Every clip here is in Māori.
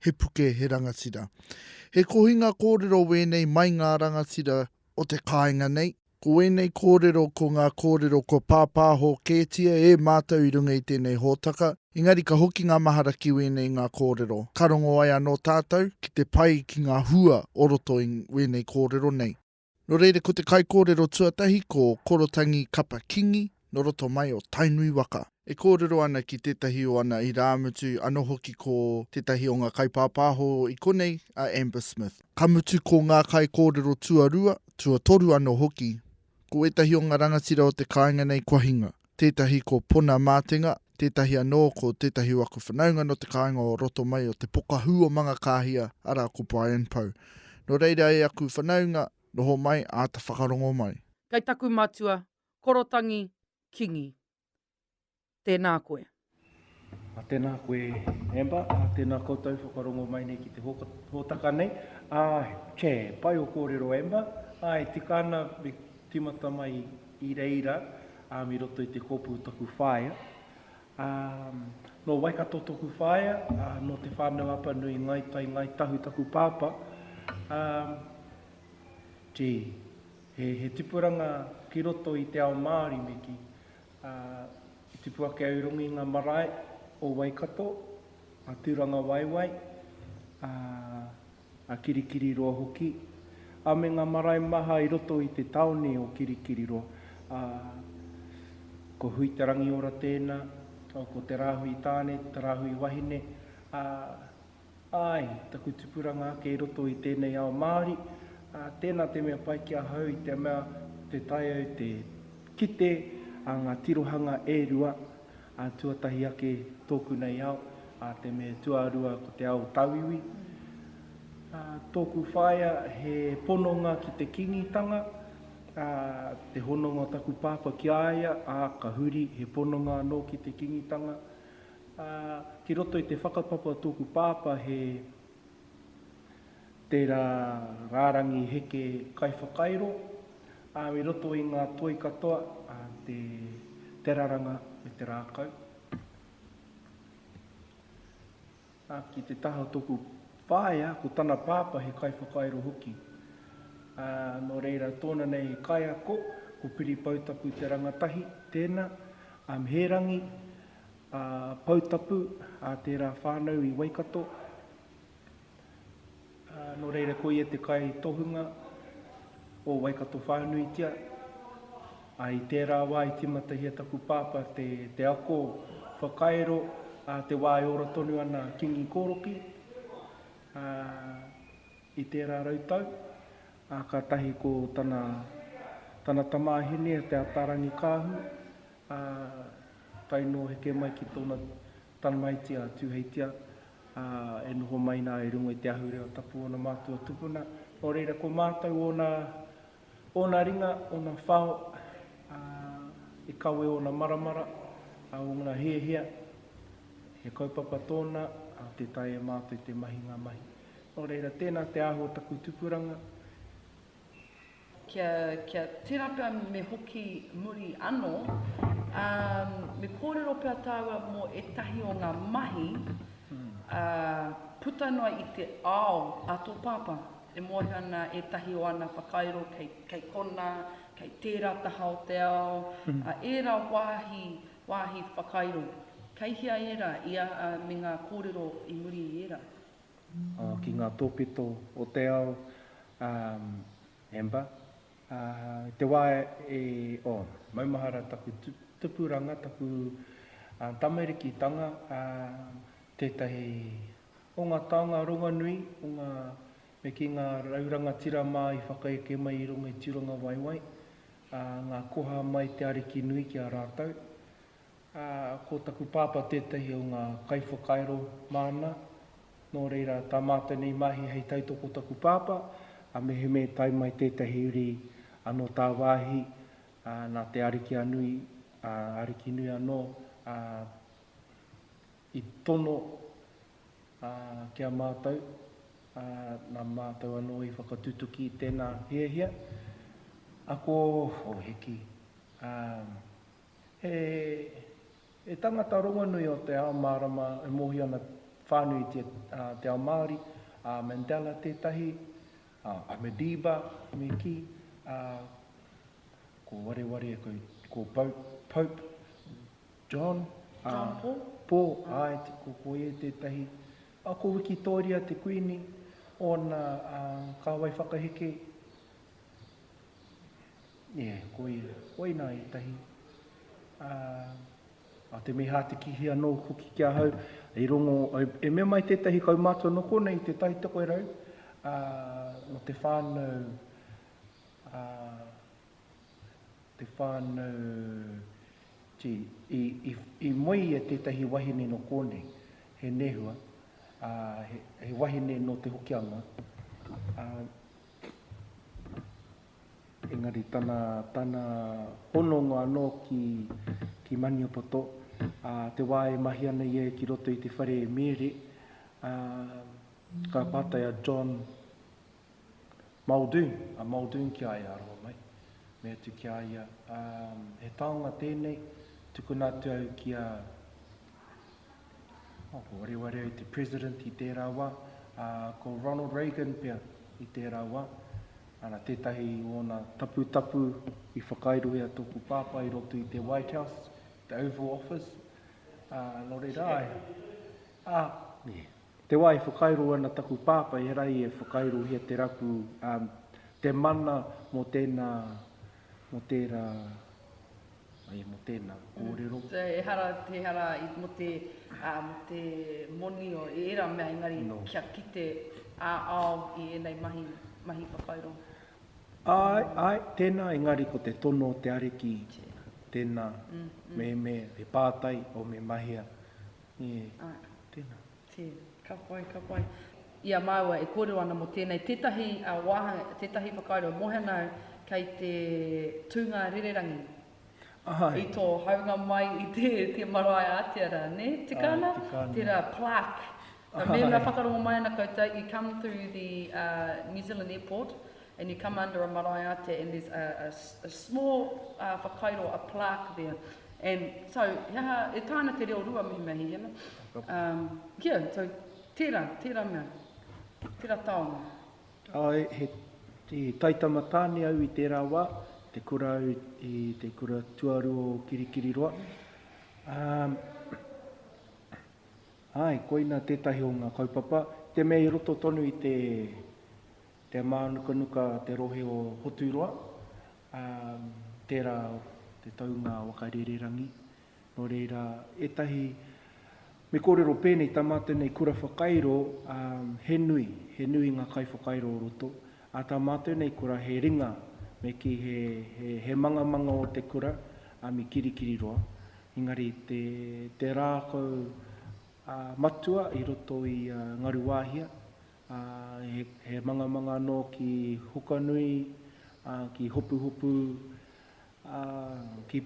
he puke, he rangatira. He kohinga kōrero wēnei mai ngā rangatira o te kāinga nei. Ko wēnei kōrero ko ngā kōrero kua pāpāho kētia e mātou i runga i tēnei hōtaka, engari ka hoki ngā mahara ki wēnei ngā kōrero. Ka rongo ai anō tātou ki te pai ki ngā hua o roto i wēnei kōrero nei. Nō reira ko te kaikōrero tuatahi ko Korotangi Kapa Kingi nō roto mai o Tainui waka. E kōrero ana ki tētahi o ana irāmutu anō hoki ko tētahi o ngā kaipāpāho i konei a Amber Smith. Ka mutu ko ngā kaikōrero tuarua, tuatoru anō hoki, ko ētahi o ngā rangatira o te kāinga nei kua hinga. tētahi ko Pona Mātenga, tētahi anō ko tētahi o aku whanaunga nō te kāinga o roto mai o te pokahū o Mangakāhia, arā ko Brian Pou. Nō reira e aku whanaunga, noho mai, āta whakarongo mai. Kei taku matua, Korotangi Kingi. Tēnā koe. Tēnā koe Amber, tēnā koutou whakarongo mai nei ki te hōtaka nei. Che, pai o kōrero Amber, e tika ana me timata mai i reira mi roto i te kōpū o taku whaea. Nō Waikato toku whaea, nō Te Whānau-a-Apanui, Ngāi Tai, Ngāi Tahu taku pāpā. Gee, he tipuranga ki roto i te ao Māori me kī. Ā, i tipu ake au i runga i ngā marae o Waikato, a Tūrangawaewae, ā, a Kirikiriroa hoki, ā, me ngā marae maha i roto i te tāone o Kirikiriroa, ā, ko Hui-te-rangiora tēnā, ā, ko Te Rāhui Tāne, Te Rāhui Wahine, ā, Āe, taku tupuranga kei roto i tēnei ao Māori, ā, tēnā te mea pai ki ahau i te mea te tae au te kite a ngā tirohanga e rua, ā, tuatahi ake tōku nei ao, ā, te me tuarua ko te ao tauiwi. Ā, tōku whaea he pononga ki te Kīngitanga, ā, te hononga o taku pāpā ki a ia, ā, ka huri he pononga anō ki te Kīngitanga. Ā, ki roto i te whakapapa o tōku pāpā he tērā rārangi heke kaiwhakairo, ā, i roto i ngā toi katoa, ā, te, te raranga me te rākau. Ā, ki te taha o tōku whaea, ko tana pāpā he kaiwhakairo hoki. Ā, nō reira, tōna nei kaiako, ko Piri Poutapu te rangatahi, tēnā, ā, me he rangi, a Poutapu, a tērā whānau i Waikato, a nō reira ko ia te kai tohunga o Waikato whānuitia, a i tērā wā i timatahia taku pāpā te, te ako whakairo, a te wā e ora tonu ana a Kingi Koroki, a i tērā rau tau, a katahi ko tana, tana tamāhine a Te Ataarangi Kaahu, Ā, tae noa heke mai ki tōna tamaiti a Tūheitia, ā, e noho mai nā i runga i te ahurea o tapu ōna mātua tupuna, nō reira ko mātou ōna, ōna ringa, ōna whao, ā, i kawe ōna maramara, ā, ōna hiahia, he kaupapa tōna, ā, tē taea e mātou te mahi ngā mahi. Nō reira, tēnā te aho o taku tupuranga. Kia, kia tērā pea me hoki muri anō, ā, me kōrero pea tāua mō ētahi o ngā mahi, ā, puta noa i te ao a tō pāpā. E mōhio ana ētahi o ana whakairo kei, kei konā, kei tērā taha o te ao, ā, ērā wāhi, wāhi whakairo. Kei hea ērā, i a, ā, me ngā kōrero i muri i ērā. ki ngā tōpito o te ao, Amber, i te wā e, oh, maumahara taku tupuranga, taku tamarikitanga, tētahi o ngā taonga ronganui o ngā, me kī, ngā rau rangatira mā i whakaeke mai i runga i Tūrangawaewae, ngā koha mai te Arikinui ki a rātou, ā, ko taku pāpā tētahi o ngā kaiwhakairo māna, nō reira, tā mātou nei mahi hei tautoko taku pāpā, ā, mehemea i tae mai tētahi uri anō tāwāhi, ā, nā te Ariki a nui, ā, Ariki nui anō, ā, i tono, ā, ki a mātou, ā, nā mātou anō i whakatutuki i tēnā hiahia, ako, o hiki, ā, He tangata rongonui o te ao mārama e mōhio ana whānuitia te ao Māori, a Mandela tētahi, a Madiba me kī, a ko wareware ko Pope John, John Paul, Paul āe ko ia tētahi, a ko Wikitōria te Kuini, ōna kāwai whakaheke, Nē, koia. Koinā ētahi. Ā, ā te mehātikihi anō hoki ki ahau, i rongo, e mea mai tētahi kaumātua nō konei i Te Tai Tokerau, ā, nō te whānau, ā, te whānau, gee, i, i, i moe ia tētahi wahine nō kōnei, he nehua, ā, he, he wahine nō Te Hokianga, ā, Engari tana, tana hononga anō ki, ki Maniapoto, ā, te wā e mahi ana ia ki roto i te whare e Mere, ā, ka pātai a John Muldoon, a Muldoon ki a ia, aroha mai, mea atu ki a ia, ā, he taonga tēnei, tukuna atu au ki a, Ko Wareware te President i tērā wā, ā, ko Ronald Reagan pea i tērā wā. Ana, tētahi o ōna taputapu i whakairohia tōku pāpā i roto i te White House, te Oval Office, ā, nō reira, ā, te wā e whakairo ana taku pāpā, e hara ai e whakairohia te rapu, ā, te mana mō tēnā, Mō tērā, ai, mō tēnā kōrero. So, ehara, ehara mō te, ā, mō te moni o ērā mea, engari kia kite ā-ao i ēnei mahi, mahi whakaurongo. Āe, āe, tēnā, engari ko te tono o te Ariki, tēnā, mēmē, he pātai, o me mahea, ē, tēnā. Te, ka pai, ka pai. I a māua e kōrero ana mō tēnei, tētahi wāhanga, tētahi whakaaro e moe ana au, kei te tūnga rererangi i tō haunga mai i te, te marae ātea rā, nē? Tika ana? Tika ana. Tērā plaque. Mēnā whakarongo mai ana koutou, you come through the uh, New Zealand Airport, and you come under a marae ātea and there's a a small whakairo, a plaque there and so he aha, e taea ana te reo rua mihi mea hiki ana um yeah so tērā, tērā mea, tērā taonga. Āe, he i Taitama Tāne au i tērā wā, te kura au i te kura tuaru o Kirikiriroa. Um āe, koina tētahi o ngā kaupapa, te mea i roto tonu i te Te mānukanuka te rohe o Hoturoa, ā, tērā te taunga waka rererangi. Nō reira, ētahi, me kōrero pēnei, tā mātou nei kura whakairo, ā, he nui, he nui ngā kaiwhakairo o roto. Ā, tā mātou nei kura he ringa, me kī he, he, he mangamanga o te kura, ā, me kirikiriroa. Engari te, te rākau, ā, matua i roto i a Ngaruwāhia, ā, he mangamanga anō ki Hukanui, ā, ki Hopuhopu, ā, ki,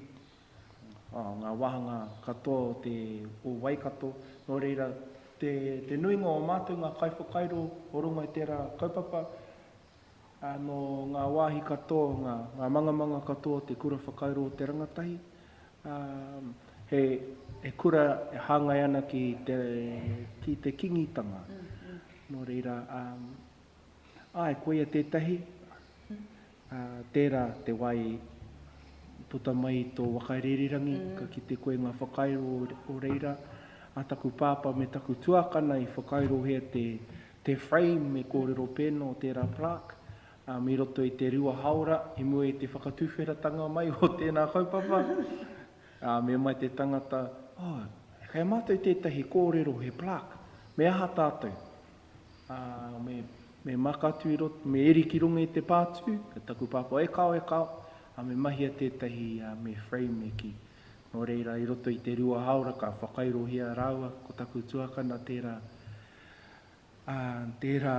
ā, ngā wāhanga katoa o te, o Waikato. Nō reira, te, te nuinga o mātou ngā kaiwhakairo o runga i tērā kaupapa, Nō ngā wāhi katoa, ngā mangamanga katoa te kura whakairo o te rangatahi. He kura e hāngai ana ki te Kingitanga. Nō reira, āe, koia tētahi, tērā te wai i puta mai i tō whakaririrangi, ka kite koe ngā whakairo o reira. Ā taku pāpā me taku tuākana i whakairohia te te frame me kōrero pēnō tērā plaque, um, i roto i te rua haora, i mua i te whakatuwheratanga mai o tēnā kaupapa, uh, me mai te tangata, oh, kei mātou tētahi kōrero he plaque, me aha tātou? Uh, me, me makatu i roto, me eri ki runga i te pātū, ka taku pāpā, e kao, e kao, uh, me mahia tētahi, uh, me frame e ki. Nō reira, i roto i te rua haora, ka whakairohia rāua, ko taku tuakana tērā, ā tērā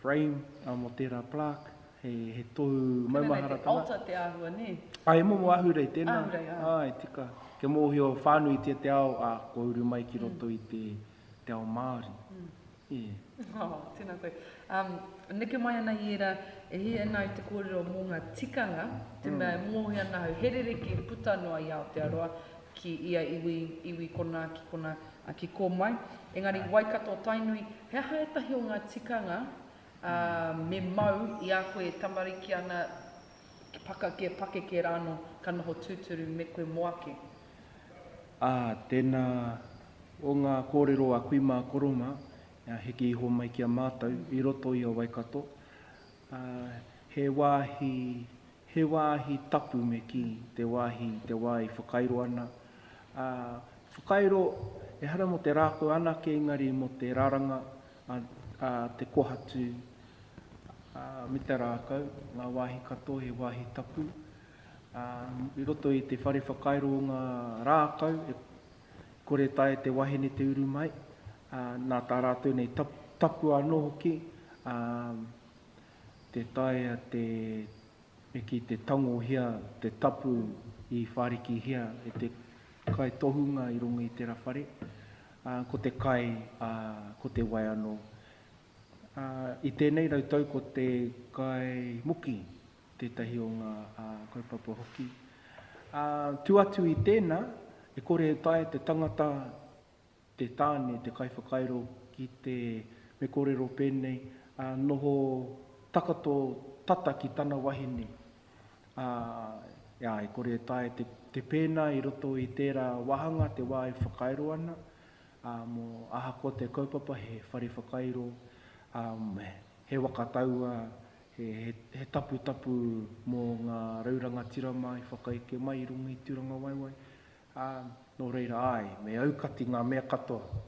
frame, ā mō tērā plaque, he he tohu maumaharatanga. Tēnā nei te altar te āhua nē? Ā he momo ahurei tēnā. Ahurei, ā. Āe tika, kia mōhio whānuitia te ao, ā kua uru mai ki roto i te te ao Māori. Yeah. Oh, tēnā koe. Um, neke mai ana i ērā, e hia ana ai te kōrero mō ngā tikanga, te mea e mōhio ana au, he rerekē puta noa i Aotearoa ki ia iwi, iwi konā ki konā, Ki kō mai. Engari Waikato Tainui, he aha ētahi o ngā tikanga ā me mau i a koe e tamariki ana, pakake, pakeke rānō, ka noho tūturu me koe mō ake? Ā, tēnā, o ngā kōrero a kui mā koro mā, heke iho mai ki a mātou i roto i a Waikato, Ā, he wāhi, he wāhi tapu me kī, te wāhi i te wā i whakairo ana, ā, whakairo ehara mō te rākau anake engari mō te raranga a, a te kohatu, ā, me te rākau, ngā wāhi katoa he wāhi tapu, ā, i roto i te whare whakairo o ngā rākau e kore taea e te wahine te uru mai, Nā tā rātou nei tapu anō hoki tē taea te me kī te tangohia te tapu i whārikihia e te kaitohunga i runga i tērā whare, ko te kai, ko te wai anō. I tēnei rau tau ko te kai muki tētahi o ngā kaupapa hoki. Tū atu i tēnā, e kore e taea te tangata, te tāne, te kaiwhakairo ki te, me kōrero pēnei, ā, noho takato tata ki tana wahine. Ā, ā, e kore e taea te, te pēnā i roto i tērā wāhanga te wā e whakairo ana, ā, mō ahakoa te kaupapa he whare whakairo, ā, he, he waka taua, he, he, he taputapu mō ngā rau rangatira mā i whakaeke mai i runga i Tūrangawaewae, Ā, nō reira, āe, me aukati ngā mea katoa,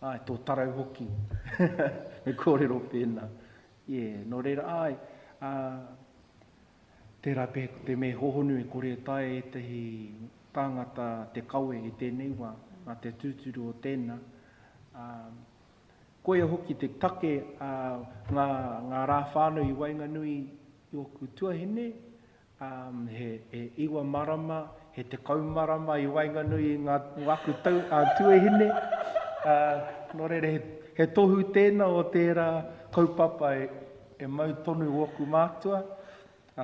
āe, tō tarau hoki, me kōrero pēnā. Ie, nō reira, āe, ā, tērā pea ko te me hōhonu e kore e taea ētahi tāngata te kawe i tēnei wā, nā te tūturu o tēnā. Ā, koia hoki te take a ngā, ngā rā whānui i waenganui i ōku tuahine, He iwa marama, he tekau marama i waenganui i ngā aku tuahine. Nō reira, he tohu tēnā o tērā kaupapa e mau tonu ōku mātua,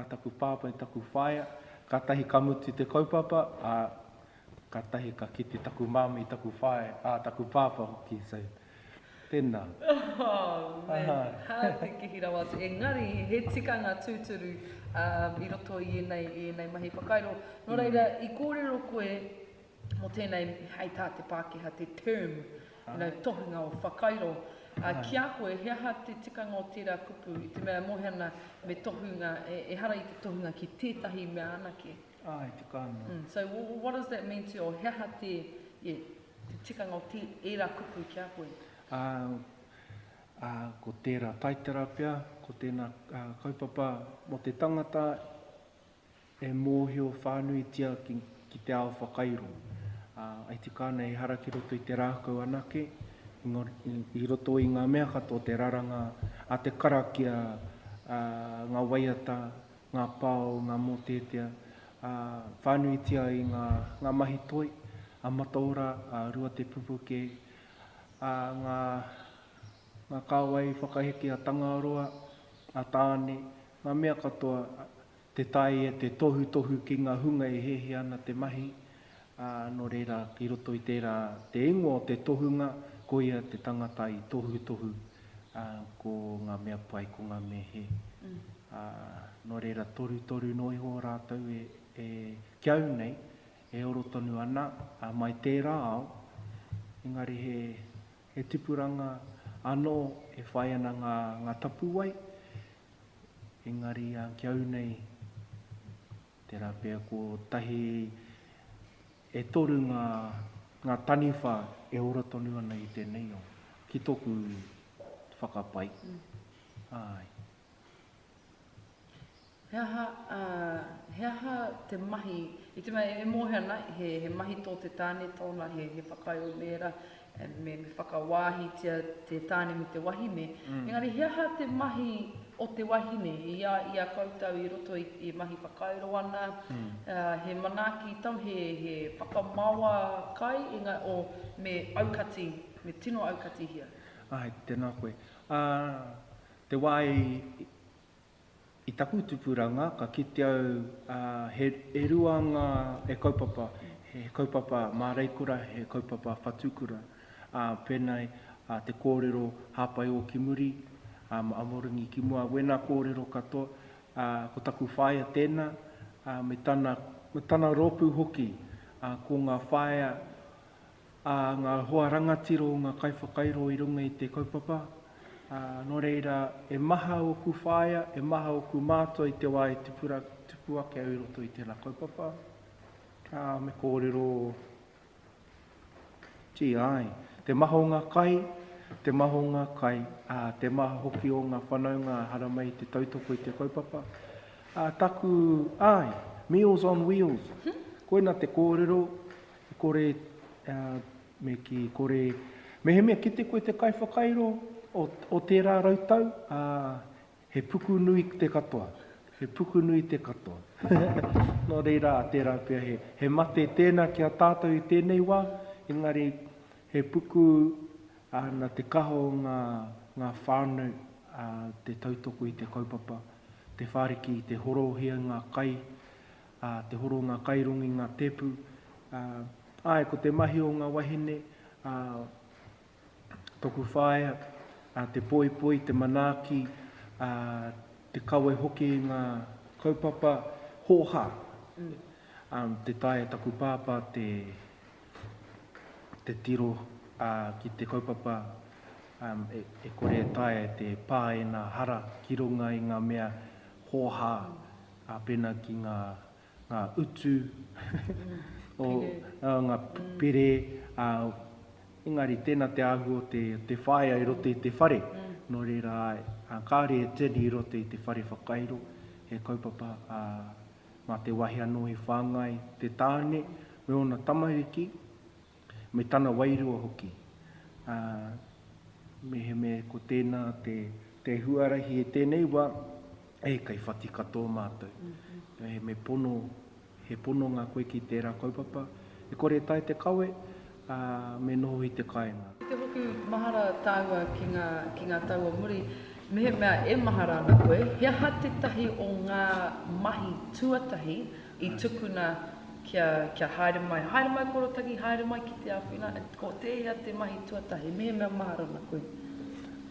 taku pāpā me taku whaea, kātahi ka mutu te kaupapa, Katahi ka kite taku mami, taku whae, a taku papa hoki, so tena. Oh man, ha te kihi rawa atu. Engari, he tikanga tuturu i roto i enei, i enei mahi whakairo. No reira, i korero koe mo tenei, hei ta te Pakeha, te term, no tohunga o whakairo. Ki a koe, he aha te tikanga o tera kupu i te mea e mohe ana me tohunga, ehara i te tohunga ki tetahi mea anake? Āe, te kāinga. Mm, so what does that mean to you? He aha te, yeah, te tikanga o te, ērā kupu ki a koe? Ā, ā, ko tērā taitara pea, ko tēnā ā, kaupapa mō te tangata e mōhio whānuitia ki, ki te ao whakairo. Ā, ai tika ana ehara ki roto i te rākau anake, engari, i, i roto i ngā mea katoa, te raranga a te karakia, ā, ngā waiata, ngā pā o ngā mōteatea, ā, whānuitia ai ngā, ngā mahi toi, a Mataora, a Ruatepupuke, ā, ngā, ngā kāwai whakaheke a Tangaroa, a Tāne, ngā mea katoa, te tae e te tohutohu ki ngā hunga e hehe ana te mahi, ā, nō reira, i roto i tērā te ingoa o te tohunga, koia te tangata i tohutohu, ā, ko ngā mea pai, ko ngā mea hē, ā, nō reira, torutoru noa iho rātou e, e, ki au nei, e oro tonu ana, ā, mai tērā ao, engari he, he tipuranga anō e whai ana ngā, ngā tapuwae, engari, ā, ki au nei, Tērā pea kotahi e toru ngā, ngā taniwha e ora tonu ana i tēnei o, ki tōku whakapae. Āe. He aha, he aha te mahi, i te mea e mōhio ana, he, he mahi tō te tāne tōna, he, he whakaae o mēra, me whakawāhitia te tāne me te wahine, engari he aha te mahi o te wahine i a, i a koutou i roto i te mahi whakairo ana, he manaaki tau, he, he whakamaoa kai, engā, o, me aukati, me tino aukatihia? Āe, tēnā koe. Ā, te wā i, I taku tupuranga ka kite au he rua nga e kaupapa, he kaupapa māreikura, he kaupapa whatukura. Penei te kōrero hāpai o ki muri, ma amoringi ki mua, wena kōrero katoa, ko taku whaea tēnā, me tana rōpū hoki, ko nga whaea, ā ngā hoa rangatira o ngā kaiwhakairo i runga i te kaupapa, ā, nō reira, e maha ōku whaea, e maha ōku mātua i te wā e tipura, tupu ake au i roto i tēnā kaupapa, ā, me kōrero, gee, āe, te maha o ngā kai, te maha o ngā kai, ā, te maha hoki o ngā whanaunga haramai i te tautoko i te kaupapa, ā, taku, āe, Meals on Wheels, koina te kōrero, E kore me kī, kore mehemea kite koe te kaiwhakairo o tērā rau tau, ā, he puku nui te katoa. He puku nui te katoa. Nō reira, tērā pea, he mate tēnā ki a tātou i tēnei wā, engari he puku nā te kaha o ngā whānau te tautoko i te kaupapa, te whāriki i te horohia ngā kai, ā, te horo o ngā kairongo i ngā tēpu, ā, āe, ko te mahi o ngā wahine, ā, toku whaea, ā, te poipoi, te manaaki, ā, te kawe hoki i ngā kaupapa hōhā, ā, te taea e taku pāpā te, te tiro, ā, ki te kaupapa, ā, e, e kore e taea e te pā ēnā hara ki runga i ngā mea hōhā, Ā, pēnā ki ngā, ngā utu, o, ā, ngā pere, ā, engari tēnā te āhua o te, te whaea i roto i te whare, nō reira, āe, ā, kāore e tini i roto i te whare whakairo, he kaupapa, ā, mā te wahi anō i whāngai te tāne me ōna tamariki, me tana wairua hoki, ā, mehemē ko tēnā te huarahi e tēnei wā, e kei whati katoa mātou. Me pono, he pono ngā koe ki tērā kaupapa, e kore e tae te kawe, ā, me noho i te kāinga. Ki te hoki mahara tāua ki ngā, ki ngā tau o muri, mehemea e mahara ana koe, he aha tētahi o ngā mahi tuatahi I tukuna kia, kia haere mai, haere mai ko Rotaki, haere mai ki te āwhina, ko tēhea te mahi tuatahi, mehemea mahara ana koe?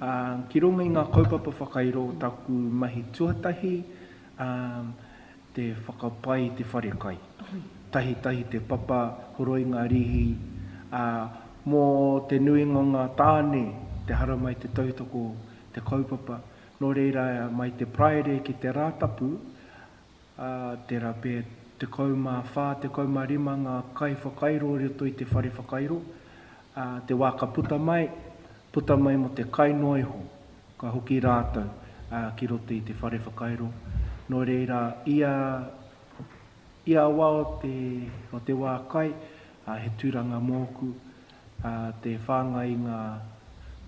Ā, ki runga i ngā kaupapa whakairo o taku mahi tuatahi, ā, te whakapai i te whare kai. Tahitahi te papa, horoi ngā rīhi, ā, mō te nuinga o ngā tāne, te haramai, te tautoko, te kaupapa. Nō reira, mai te Paraire ki te Rātapu, ā, tērā pea e 14, 15 ngā kaiwhakairo i roto i te whare whakairo, ā, te wā ka puta mai, puta mai mō te kai noa iho, ka hoki rātou, ā, ki roto i te whare whakairo, nō reira, ia, ia wā o te, o te wā kai, ā, he tūranga mōku, ā, te whāngai i ngā,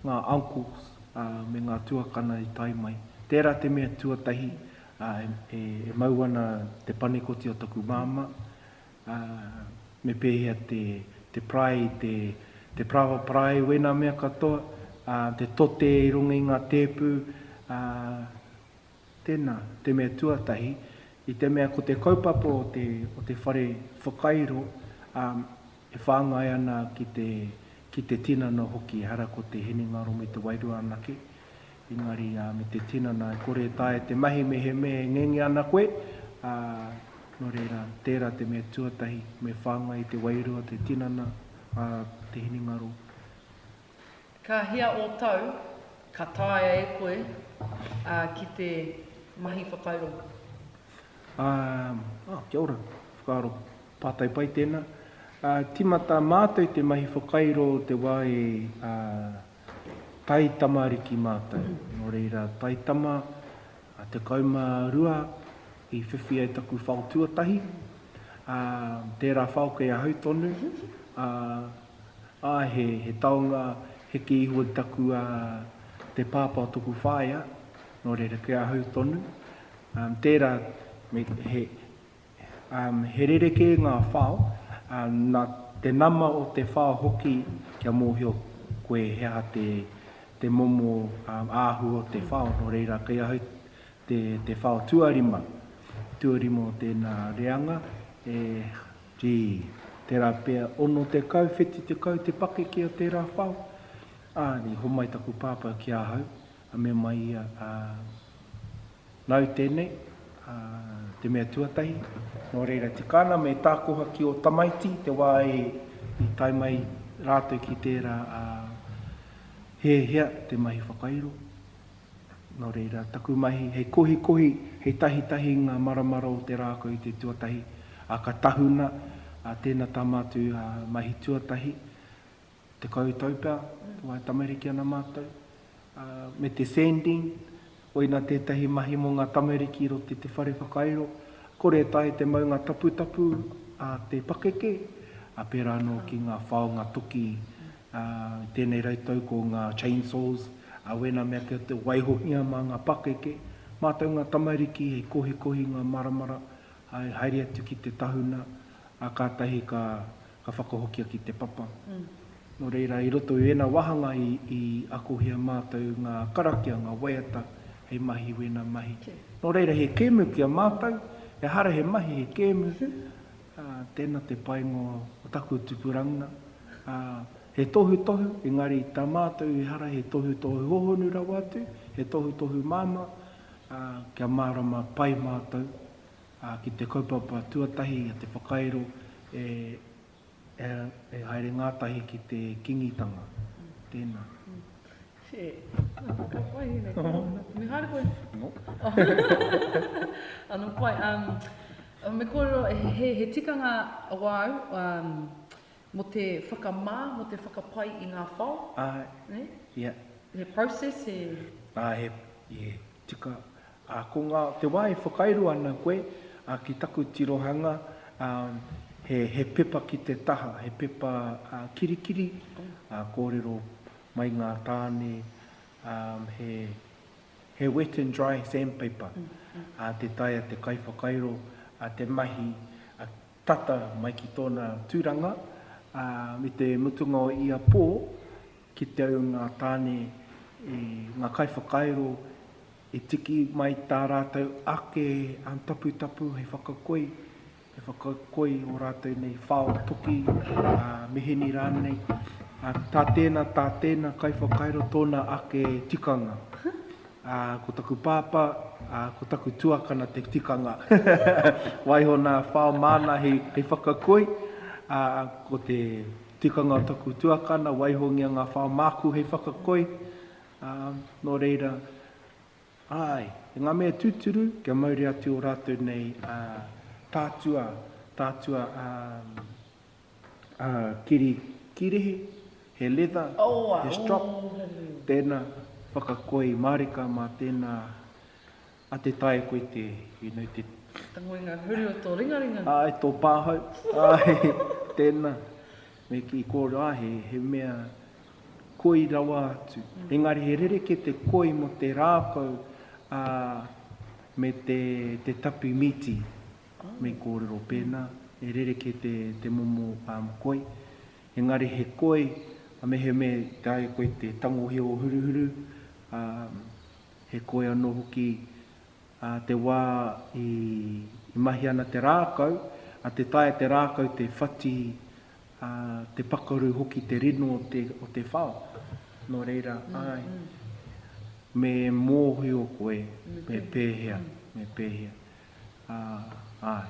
ngā uncles, ā, me ngā tuakana i tae mai. Tērā te mea tuatahi, Ā, e mau ana te panekoti o taku māmā, ā, me pēhea te, te parae i te, te paraoa parae wēnā mea katoa, ā, te tote i runga i ngā tēpu, ā, tēnā, te mea tuatahi, i te mea ko te kaupapa o te, o te whare whakairo, ā, e whāngai ana ki te, ki te tinana hoki, ehara ko te hinengaro me te wairua anake. engari me te tinana e kore e taea e te mahi mehemea e ngenge ana koe, ā, nō reira, tērā te mea tuatahi, me whāngai i te wairua, te tinana, ā, te hinengaro. Ka hea ō tau ka taea e koe, ā, ki te mahi whakairo? Ā, ā, kia ora, whakaaro pātai pai tēnā. Ā, tīmata mātou te mahi whakairo te wā e, ā, taitamariki mātou, nō reira taitama a 12 i whiwhi ai taku whao tuatahi, ā, tērā whao kei ahau tonu, ā, ā, he, he taonga heke iho i taku, ā, te pāpā o taku whaea, nō reira kei ahau tonu, ā, tērā, me, he, He rerekē ngā whao, nā te nama o te whao hoki kia mōhio koe he aha te momo āhua o te whao, nō reira kei ahau te whao tuarima, tuarima o tēnā reanga, e, gee, tērā pea, 60, 70 te pakeke o tērā whao, ā, i homai taku pāpā ki ahau, Ka mea mai ia, Ā, nāu tēnei, ā, te mea tuatahi, nō reira, tika ana me tākoha ki ō tamaiti i te wā i tae mai rātou ki tērā, ā, he hea te mahi whakairo. Nō reira, taku mahi, hei kohikohi, hei tahitahi i ngā maramara o te rākau i te tuatahi, ā, ka tahuna, ā, tēna tama atu, ā, mahi tuatahi, Tekau tau pea, te wae tamariki ana matou, me te sanding, koina tetahi mahi mo nga tamariki ro te te whare whakairo, kore tahi te maunga taputapu a te pakeke, a pera no ki nga whaonga toki, a i tenei rau tau ko nga chain saws, a wena mea kia te waihohia ma nga pakeke, matou nga tamariki hei kohikohi nga maramara, hai haere atu ki te tahuna, a katahi ka ka whakahokia ki te papa. Nō reira, i roto i ēnā wāhanga i akohia mātou ngā karakia, ngā waiata hei mahi i wēnā mahi. Nō reira, he kēmu ki a mātou, ehara he mahi, he kēmu, tēnā te painga o taku tupurangina. He tohutohu, engari tā mātou ehara he tohutohu hōhonu rawa atu, he tohutohu māmā, kia mārama pai mātou ā, ki te kaupapa tuatahi a te whakairo e e haere ngātahi ki te Kīngitanga. Tēnā. Che, ka whakawahine nei koe. Me haere koe? No. Ano pai, um, me kōrero, he, he tikanga wāu, um, Mo te whakamā, mo te whakapai i ngā whao. Āe. Ne? Ia. He process, he. Āe, he, ie, tika. Ā, ko ngā, te wā e whakairo ana koe, ā, ki taku tirohanga, ā, he, he pepa ki te taha, he pepa, ā, kirikiri, ā, kōrero mai ngā tāne, ā, he, he wet and dry sandpaper, ā, tē taea te kaiwhakairo, ā, te mahi, ā, tata mai ki tōna tūranga, ā, me te mutunga o ia pō, kite au ngā tāne i ngā kaiwhakairo i tiki mai tā rātou ake taputapu hei whakakoi, hei whakakoi ō rātou nei whao toki, ā, mihini rānei, ā, tā tēnā, tā tēnā kaiwhakairo tōna ake tikanga. Ā, ko taku pāpā, ā, ko taku tuakana te tikanga. Waiho nā whao māna hei, hei whakakoi, ā, ko te tikanga o taku tuakana, waihongia ngā whao māku hei whakakoi, ā, nō reira, āe, e ngā mea tūturu, kia mauri atu ō rātou nei, ā, tātua, tātua, ā, kiri kirihi, he leather, he strop, tēnā, whakakoi i mārika mā tēnā a Te Tae koe te, you know, te. Te ngoinga huri o tō ringaringa. Āe, tō pāhau, āe, tēnā, me kī kōrero, āe, he mea koi rawa atu. Engari he rerekē te koi mō te rākau me te tapi mīti. Me kōrero pēnā, e rerekē te momo koi, engari he koi, a mehemea i taea koe te tangohia o Huruhuru, ā, he koi anō hoki ā te wā i mahi ana te rākau, ā, tē taea te rākau te whati, ā, te pakaru hoki te rino o te whao. Nō reira, āe, me mōhio koe me pēhea, me pēhea. ā, āe.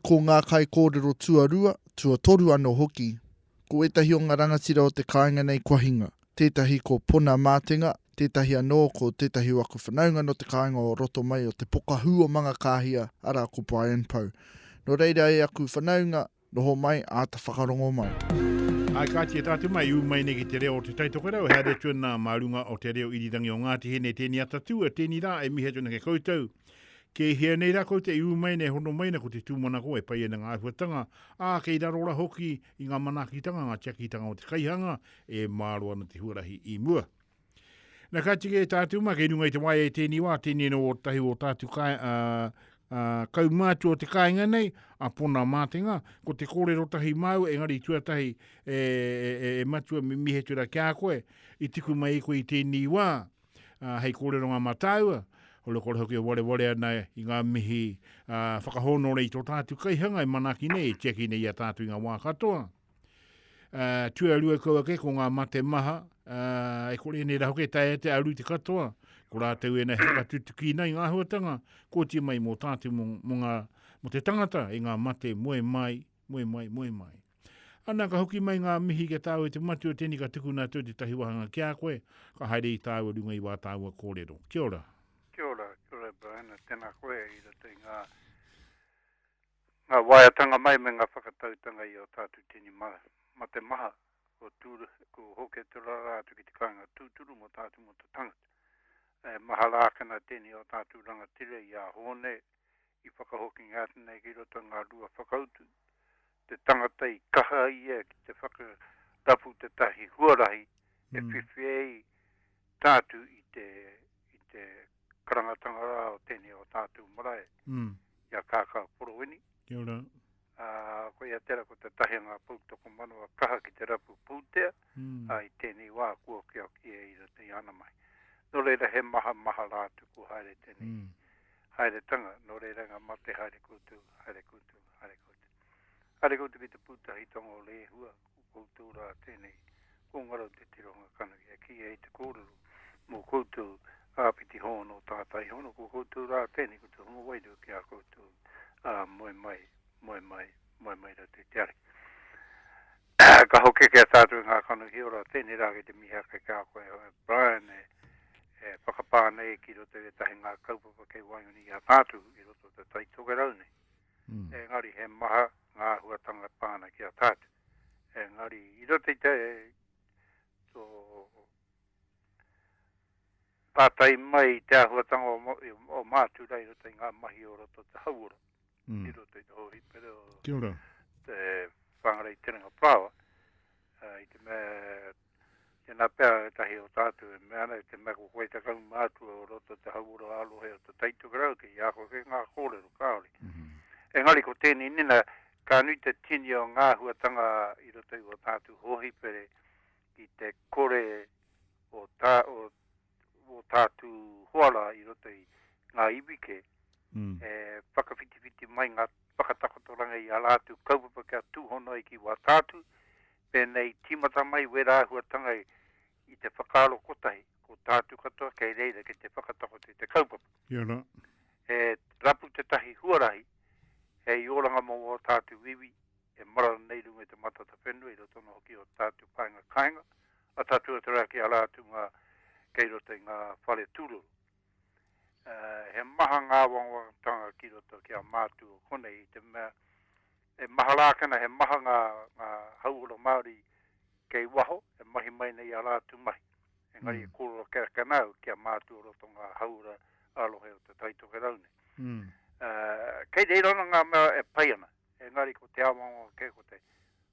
Ko ngā kaikōrero tuarua, tuatoru anō hoki, ko ētahi o ngā rangatira o te kāinga nei kua hinga. Tētahi ko Pona Mātenga, tētahi anō ko tētahi o aku whanaunga nō te kāinga o roto mai o te pokahū o Mangakāhia, arā, ko Brian Pou. Nō reira e aku whanaunga, Noho mai, āta whakarongo mai. Āe kāti e tātu mai, ū mai nei ki te reo o Te Tai Tokerau, he haere atu ana mā runga o te reo irirangi o Ngāti Hine, tēnei ata tua, tēnei rā e mihi atu ana ki a koutou. Kei hea nei rā koutou i ū mai nei e hono mai ana ko te tūmanako e pai ana ngā āhuatanga, ā, kei raro rā hoki i ngā manaakitanga, ngā tiakitanga o te kaihanga e māro ana te huarahi i mua. Na ka tika e tātou ma kei runga i te wai e tēni wā, tēnei no o tahi o tātou kai, a, a, kaumātu o te kāinga nei, a Pona Mātenga, ko te kōrero tahi māu, engari tuatahi e, e, e, e matua mi mihetura ki a koe, i tiku mai i koe i tēni wā, a, hei kōreronga mā tāua, holo kore hoki e wareware ana i ngā mihi a, whakahōnore i tō tātou kaihanga e manaki nei, e tiaki nei i a tātou i ngā wā katoa. Uh, tuarua kau ake ko ngā mate maha, uh, e kore nei rahoke tae te aru te katoa, ko rātou e nei haka tutuki nei ngā huatanga, kōti mai mō tātou mō, mō, ngā, mō te tangata i ngā mate moe mai, moe mai, moe mai. Ana ka hoki mai ngā mihi ki tāu e te matua tēnei ka tukuna atu te tahi wahanga ki a koe, ka haere i tāua runga i wā tāua kōrero. Kia ora. Kia ora, kia ora Brian, tēnā koe i roto i ngā Ngā waeatanga mai me ngā whakatautanga i a tātou tini mā, mā te maha, kua tūru, kua hokia te rarā atu ki te kāinga tūturu mō tātou mō te tangata. E maha rākana tēnei o tātou rangatira i a Hōne i whakahokingia atu nei ki roto i ngā rua whakautu, te tangata i kaha ia ki te whakarapu tētahi huarahi e whiwhi ai tātou i te. i te karangatanga rā o tēnei o tātou marae, mm. i a Kākā Porowini. Kia ora. Uh, ko ia tera ko te tahi ngā poutoko manawa kaha ki te rapu pūtea, mm. uh, i tēnei wā kua kia ki e ira te ana mai. Nō reira he maha maha rā tu kua haere tēnei. Mm. Haere tanga, nō reira ngā mate haere kūtu, haere kūtu, haere kūtu. Haere kūtu ki te pūtahi tonga o Lehua, Ko koutou rā tēnei, ko Ngarau Te Tirohanga Kanohi e kīia i te kōrero mō koutou, Āpiti Hōno, Tātai Hōno, ko koutou rā tēnei, ko te hunga wairua ki a koutou, ā, moe mai, moe mai, moe mai rātou i te Ariki. Ka hokekea tātou i ngā kanohi ora, tēnei rā kei te mihi ake ki a koe, e Brian, e whakapā nei ki roto i ētahi ngā kaupapa kei waenganui i a tātou i roto o te tai tokerau nei. engari he maha ngā āhuatanga pā ana ki a tātou. Engari, i roto i te pātai mai i te āhuatanga o Mātūrā i roto i ngā mahi o roto te hauora, mm. i roto i te hōhipere o Kia ora. te whāngarei terenga pāwa, uh, i te mea Tēnā pea ētahi o tātou e mea ana, te mea ko koe te kaumātua o roto te hauora ā-rohe o te Tai Tokerau kei a koe kei ngā kōrero kāore. Engari ko tēnei nina, ka nui te tini o ngā āhuatanga i roto i ō tātou hōhipere ki te kore o tā, o. wō tātu hoara i roto i ngā iwi kē, e whakawhitiwhiti mai ngā whakatakotoranga i a rātou kaupapa kia tūhono ai ki wā tātu, pēnei i tīmata mai wērā āhuatanga i te whakaaro kotahi, ko tātu katoa kei reira ki te whakatakoto i te kaupapa. Ia rā. He rapu tētahi huarahi hei oranga mō wō tātu iwi e marara nei runga i te Matatawhenua i roto anō hoki i ō tātu paenga kāinga, a tātou e taraki ara atu ngā kei roto i ngā whare tūroro. He maha ngā wangawangtanga ki roto ki a mātou o konei, i te mea, e mahara ake ana, he maha ngā, ngā hauora Māori kei waho, e mahi mai nei a rātou mahi. Engari mm. e kōrero ake ake ana au ki a mātou o roto ngā hauora a rohe o te taitoke rau nei. Mm. Uh, kei reira ana ngā mea e pai ana, engari ko te awanga ke ko te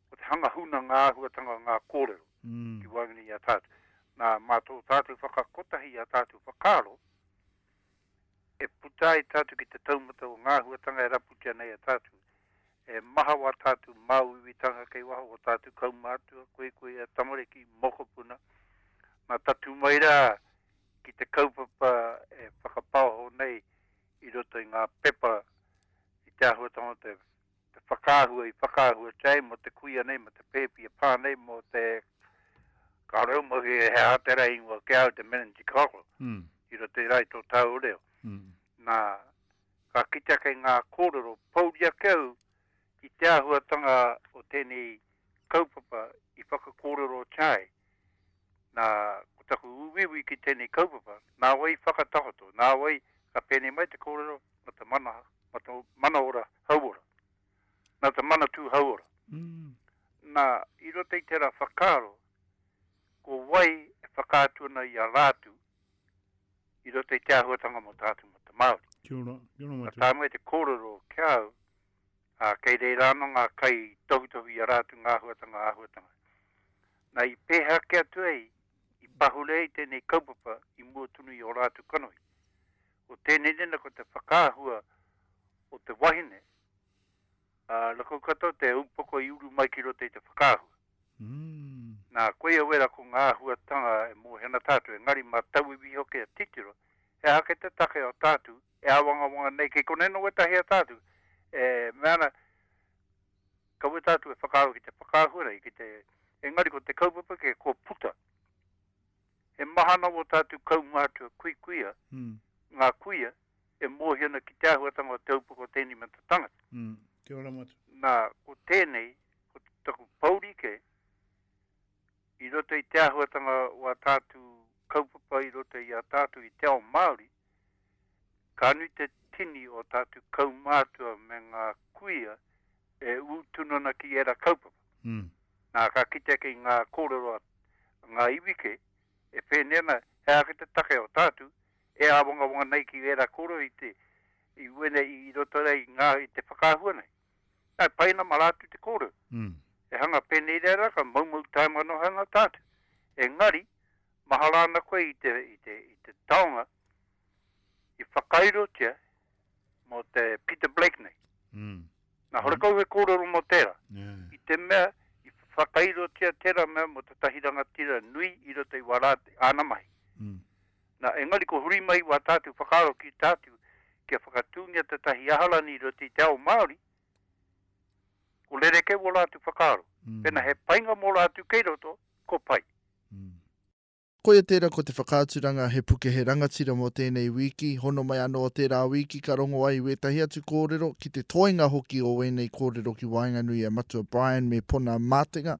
Ko te hanga huna ngā āhuatanga o ngā kōrero ki waenganui i a tātou. Nā, mā tō tātou whakakotahi i ā tātou whakaaro, e puta ai tātou ki te taumata o ngā āhuatanga e raputia nei e tātou, e maha o ā tātou māuiuitanga kei waho, o ō tātou kaumātua, koikoia, tamariki, mokopuna. Nā, tatū mai rā ki te kaupapa e whakapaoho nei i roto i ngā pepa i te āhuatanga o te. te whakaahua i whakaahua tia ai mō te kuia nei, mō te pēpi e pā nei, mō te kāore au mahi e hea te rā ingoa ki a au, te Menanti Karo, mm. i roto i rai tō tāu reo. Mm. Nā, ka kitea kei ngā kōrero, pauri ake au ki te āhuatanga o tēnei kaupapa i whakakōrero tia ai. Nā, ko taku uiui ki tēnei kaupapa, nā wai whakatakoto, nā wai ka pēnei mai te kōrero mā te mana, mā te mana ora hauora, nā te manatū hauora. Nā, i roto i tērā whakaaro, ko wai e whakaatu ana i a Rātu i roto i te āhuatanga mō tātou mō te Māori. Kia ora, kia ora Matua. Ka tae mai te kōrero ki a au, ā, kei reira anō ngā kai i tohutohu i a rātou ngā āhuatanga, āhuatanga. Nā, i pēhea kē atu ai, i pahure ai tēnei kaupapa i mua tonu i ō rātou kanohi. Ko tēnei nena ko te whakaahua o te wahine, ā, rakau katoa te upoko i uru mai ki roto i te whakaahua. Nā, koia wera ko ngā āhuatanga e mōhio ana tātou, engari mā tauiwi hoki e titiro, he aha kē te take o tātou E āwangawanga nei kei konei nō wētahi ata atu e mea ana, ka weta atu e whakaaro ki te whakaahua nei, ki te, engari ko te kaupapa kē kua puta. He mahana wō tātou kaumātua kuikuia, ngā kuia e mōhio ana ki te āhuatanga o te aupoko o tēnei mea te tangata. Nā, ko tēnei, ko taku pouri kē, I roto i te āhuatanga o ā tātou kaupapa i roto i a tātou i te ao Māori, ka nui te tini o tātou kaumātua me ngā kuia e ū tunu ana ki ērā kaupapa. Nā, ka kitea kei ngā kōrero a ngā iwi kē, e pēnei ana, he aha ki te take o tātou e āwangawanga nei ki ērā kōrero i te, i uenei, i roto ai i ngā, i te whakaahua nei. Ā, pai nama rā atu te kōrero. E hanga pēnei rā rā, ka moumou taimanohanga tātou. Engari, mahara ana koe i te, i te, i te taonga i whakairotia mō te Peter Blake nei. Nā, horekau he kōrero mō tērā. I te mea, i whakairotia tērā mea mō tētahi rangatira nui i roto i wā rā āna mahi. Na, engari ko Hurimaiwa tātou whakaaro ki tātou kia whakatūngia tētahi aharani i roto i te ao Māori, ko rerekē wō rātou whakaaro. Pēnā he painga mō rātou kei roto, ko pai. Koia tērā ko te whakaaturanga he puke he rangatira mō tēnei wīki, hono mai anō o tērā wīki ka rongo ai wētahi atu kōrero ki te toenga hoki o wēnei kōrero ki waenganui a Matua Brian me Pona Mātenga.